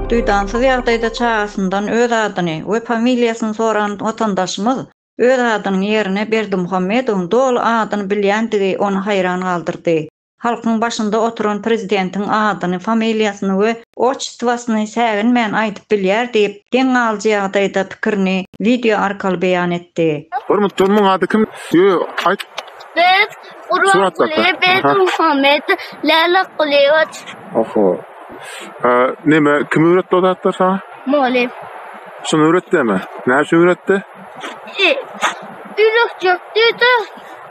Duýdansyz ýagdaýda çagasyndan öz adyny we familiýasyny soran watandaşymyz öz adynyň ýerine Berdimuhamedowyň doly adyny bilýändigi ony haýran galdyrdy. Halkyň başynda oturan prezidentiň adyny, familiýasyny we otçestwasyny säginmän aýdyp bilýär diýip, geň galyjy ýagdaýda pikirini wideo arkaly beýan etdi. Hormatly muň ady kim yo ayt. Biz Gurbanguly Berdimuhamed Lalekulýewiç. Oho. Neme kim öwretdi o zatlar sana? Mugallym. Şuny öwretdimi? Näçe öwretdi? Ýürekçek diýdi.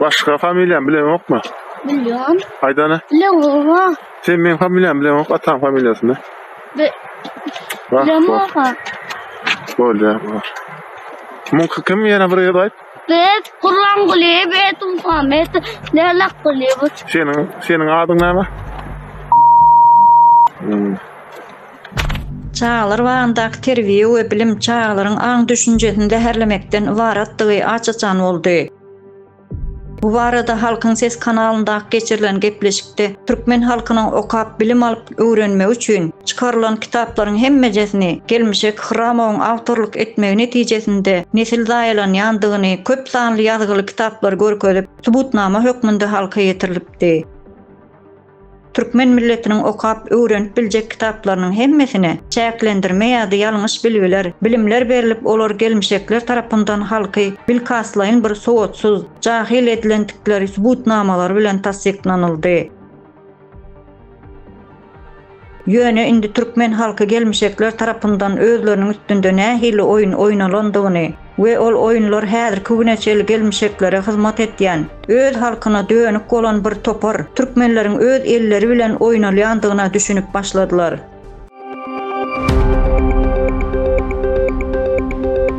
Başga familiýany bileňokmy? Bilýän. Aýdana. Bileňoga. Sen meň familiýamy bileňok, ataň familiýasyny. Bi Wah, bileňoga. Bolýar, bar. Muňky kim ýene bir ýerde aýt. Bet Gurlanguly, bet Muhammet, Lelak Guly. Seniň, seniň adyň näme? Hmm. Çagalar bagyndaky terbiýe we bilim çagalaryň aň-düşünjesini zäherlemekden ybaratdygy aç-açan boldy. Bu barada Halkyň sesi kanalynda geçirilen gepleşikde türkmen halkynyň okap bilim alyp öwrenmegi üçin çykarylan kitaplaryň hemmejesini gelmişek Hyrramowyň awtorlyk etmegi netijesinde nesil zaýalanýandygyny köp sanly ýazgyly kitaplar görkezip subutnama hökmünde halka ýetirilipdi. Türkmen milletiniň okap, öwrenip biljek kitaplarynyň hemmesine çäklendirme ýa-da ýalňyş bilgiler, bilimler berlip, olar gelmişekler tarapyndan halky bilkastlaýyn bir sowatsyz, jahyl edilendikleri subutnamalary bilen tassyklanyldy. Ýöne indi türkmen halky gelmişekler tarapyndan özleriniň üstünde nähili oýun oýnalandygyny we ol oýunlar häzirki güne çenli gelmişeklere hyzmat etýän, öz halkyna dönük bolan bir topar türkmenleriň öz elleri bilen oýnalýandygyna düşünip başladylar.